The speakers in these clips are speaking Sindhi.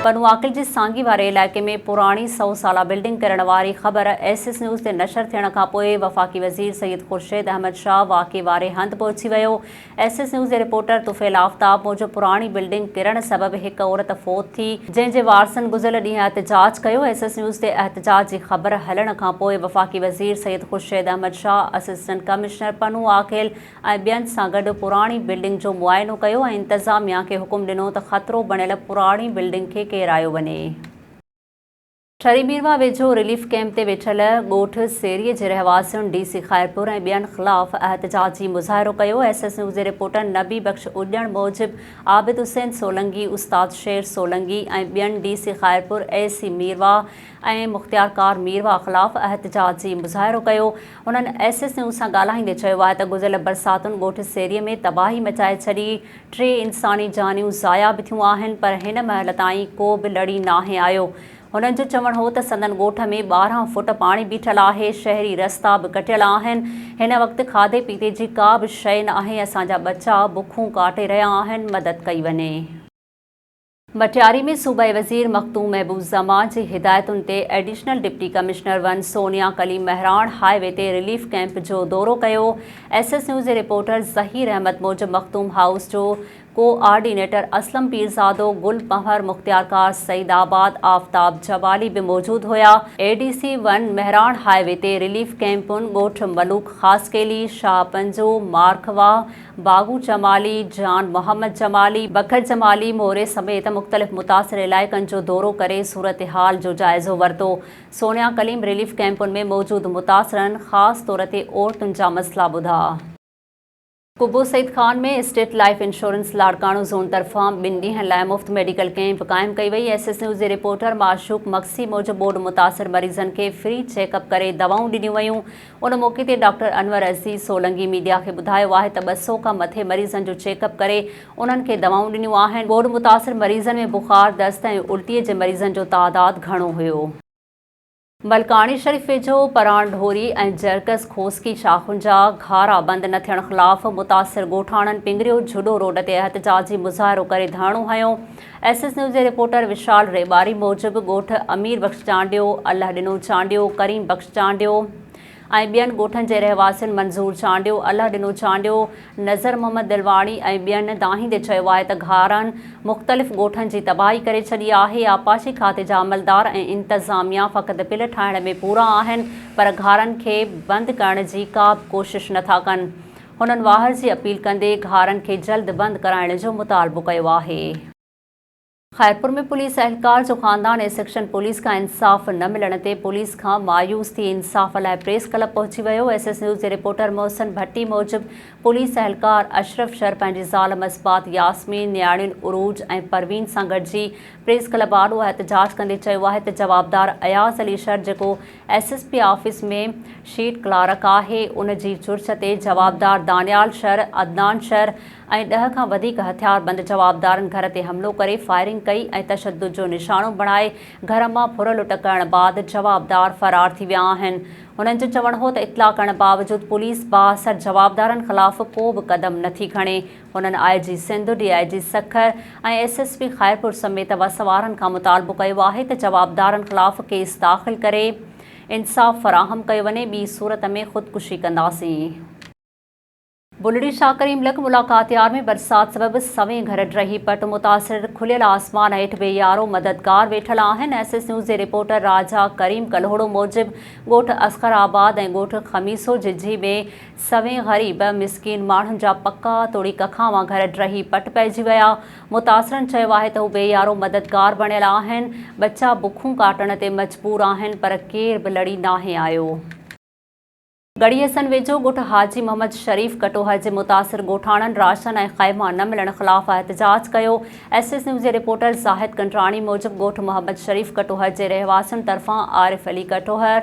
پنو عاقل جي سانگي واري علائقي ۾ پراڻي سؤ سالا بلڊنگ ڪرڻ واري خبر ايس ايس نيوز تي نشر ٿيڻ کانپوء وفاقي وزير سيد خورشيد احمد شاهه واقعي واري هنڌ پهچي ويو ايس ايس نيوز جي رپورٽر طفيل آفتاب موجب پراڻي بلڊنگ ڪرڻ سبب هڪ عورت فوت ٿي جنهن جي وارثن گذريل ڏينهن احتجاج ڪيو ايس ايس نيوز تي احتجاج جي خبر هلڻ کانپوء وفاقي وزير سيد خورشيد احمد شاهه اسسٽنٽ ڪمشنر پنهون آکيل ۽ ٻين سان گڏ پراڻي بلڊنگ جو معائنو ڪيو ۽ انتظاميا کي حڪم ڏنو ته خطرو بڻيل پراڻي بلڊنگ کي ڪيرايو وڃي. ٺري ميرواهه ويجهو رليف ڪئمپ تي ويٺل ڳوٺ سيري جي رهواسين ڊي سي خيرپور ۽ ٻين خلاف احتجاجي مظاهرو ڪيو، ايس ايس نيوز جي رپورٽر نبي بخش اڄڻ موجب عابد حسين سولنگي، استاد شير سولنگي ۽ ٻين D C Khairpur, A C Mirwah ۽ مختيارڪار ميرواهه خلاف احتجاجي مظاهرو ڪيو، هنن ايس ايس نيوز سان ڳالهائيندي چيو آهي ته گذريل برساتن ڳوٺ سيري ۾ تباهي مچائي ڇڏي، ٽي انساني جانيون ضايع به ٿيون آهن پر هن مهل تائين ڪو به لڙي ناهي آيو. هنن جو چوڻ هو ته سندن ڳوٺ ۾ ٻارهن فوٽ پاڻي بيٺل آهي، شهري رستا به ڪٽيل آهن، هن وقت کاڌي پيتي جي ڪا به شيء ناهي، اسان جا ٻچا بکون ڪاٽي رهيا آهن، مدد ڪئي وڃي. مٽياري ۾ صوبائي وزير مخدوم محبوب زمان جي هدايتن تي additional deputy commissioner one Sonia Kaleem Mehran highway تي رليف ڪئمپ جو دورو ڪيو، ايس ايس نيوز جي رپورٽر ظهير احمد موجب مخدوم هائوس جو ڪو آرڊينيٽر اسلم پيرزادو، گل پنهور مختيارڪار، سعيد آباد آفتاب جوالي به موجود هيا. A D C one Mehran highway تي رليف ڪئمپن ڳوٺ ملوڪ خاصخيلي، شاهه پنجو، مارکواهه، باهو جمالي، جان محمد جمالي، بکر جمالي موري سميت مختلف متاثر علائقن جو دورو ڪري صورتحال جو جائزو ورتو، سونيا ڪليم ريليف ڪئمپن ۾ موجود متاثرن خاص طور تي عورتن جا مسئلا ٻڌا. Qubo Saeed Khan ۾ state life insurance Larkana zone طرفان ٻن ڏينهن لاء مفت ميڊيڪل ڪئمپ قائم ڪئي وئي، ايس ايس نيوز جي رپورٽر معشوق مگسي موجب ٻوڏ متاثر مريضن کي فري چيڪ اپ ڪري دوائون ڏنيون ويون، ان موقعي تي ڊاڪٽر انور عزيز سولنگي ميڊيا کي ٻڌايو آهي ته ٻه سؤ کان مٿي مريضن جو چيڪ اپ ڪري انهن کي دوائون ڏنيون آهن، ٻوڏ متاثر مريضن ۾ بخار، دست ۽ الٽي جي مريضن جو تعداد گهڻو هيو. ملڪاڻي شريف ويجهو پراڻ ڍوري ۽ جرڪس کوسڪي شاخن جا گهارا بند نه ٿيڻ خلاف متاثر ڳوٺاڻن پنگريو جهڏو روڊ تي احتجاجي مظاهرو ڪري ڌرڻو هنيو، ايس ايس نيوز جي رپورٽر وشال ريٻاري موجب ڳوٺ امير بخش چانڊيو، الله ڏنو چانڊيو، ڪريم بخش چانڊيو ۽ ٻين ڳوٺن جي رهواسين منظور چانڊيو، الله ڏنو چانڊيو، نظر محمد دلواڻي ۽ ٻين دانهيندي چيو آهي ته گهارن مختلف ڳوٺن جي تباهي ڪري ڇڏي آهي، آبپاشي کاتي جا عملدار ۽ انتظاميا فقط بل ٺاهڻ ۾ پورا آهن پر گهارن کي بند ڪرڻ جي ڪابه ڪوشش نٿا ڪن. هنن واهر جي اپيل ڪندي گهارن کي جلد بند ڪرائڻ جو مطالبو ڪيو آهي. خيرپور ۾ پوليس اهلڪار جو خاندان ۽ سيڪشن پوليس کان انصاف نه ملڻ تي پوليس کان مايوس ٿي انصاف لاء پريس ڪلب پهچي ويو ايس ايس نيوز جي رپورٽر محسن ڀٽي موجب پوليس اهلڪار اشرف شر پنهنجي زال مصباح ياسمين نياڻين عروج ۽ پروين سان گڏجي پريس ڪلب آڏو احتجاج ڪندي چيو آهي ته جوابدار اياز علي شر جيڪو S S P office ۾ sheet clerk آهي، ان جي چرچ تي جوابدار دانيال شر، عدنان شر ۽ ڏهه کان وڌيڪ هٿياربند جوابدارن گهر تي حملو ڪري فائرنگ ڪئي ۽ تشدد جو نشانو بڻائي گهر مان ڦر لٽ ڪرڻ بعد جوابدار فرار ٿي ويا آهن. هنن جو چوڻ هو ته اطلاع ڪرڻ باوجود پوليس بااثر جوابدارن خلاف ڪو به قدم نٿي کڻي، هنن I G Sindh, D I G Sukkur ۽ S S P Khairpur سميت وسوارن کان مطالبو ڪيو آهي ته جوابدارن خلاف ڪيس داخل ڪري انصاف فراهم ڪيو وڃي ٻي صورت ۾ خودڪشي ڪنداسين. بلڙي شاهه ڪريم لڪ ملاڪات يار ۾ برسات سبب سوين گهر ڊهي پٽ متاثر، کليل آسمان هيٺ به يارو مددگار ويٺل آهن، ايس ايس نيوز جي رپورٽر راجا ڪريم ڪلهوڙو موجب ڳوٺ اصغر آباد ۽ ڳوٺ خميسو ججهي ۾ سوين غريب مسڪين ماڻهن جا پڪا توڙي ڪکاوا گهر ڊهي پٽ پئجي ويا، متاثرن چيو آهي ته هو بي يارو مددگار بڻيل آهن، ٻچا بکون ڪاٽڻ تي مجبور آهن پر ڪير به لڙي ناهي آيو. گڙيسن ويجهو ڳوٺ حاجي محمد شريف ڪٽوهه جي متاثر ڳوٺاڻن راشن ۽ خيما نه ملڻ خلاف احتجاج ڪيو، ايس ايس نيوز جي رپورٽر زاهد ڪنڊراڻي موجب ڳوٺ محمد شريف ڪٽوهه جي رهواسين طرفان عارف علي ڪٽوهه،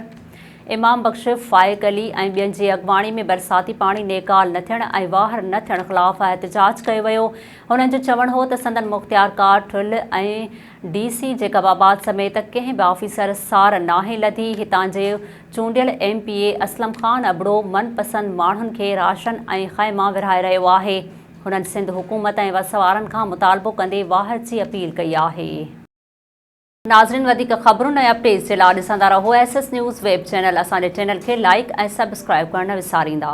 امام بخش، فائق علي ۽ ٻين جي اڳواڻي ۾ برساتي پاڻي نيڪال نه ٿيڻ ۽ واهر نه ٿيڻ خلاف احتجاج ڪيو ويو، هنن جو چوڻ هو ته سندن مختيارڪار ٺل ۽ ڊي سي جيڪب آباد سميت ڪنهن به آفيسر سار ناهي لڌي، هتان جي چونڊيل M P A Aslam Khan Abro من پسند ماڻهن کي راشن ۽ خيما ورهائي رهيو آهي، هنن سنڌ حڪومت ۽ وسوارن کان مطالبو ڪندي واهر جي اپيل ڪئي آهي. ناظرين وڌيڪ خبرون ۽ اپڊيٽس جي لا ڏسندا رهو S S news web channel اسان جي چينل کي لائيڪ ۽ سبسڪرائيب ڪرڻ نه وساريندا.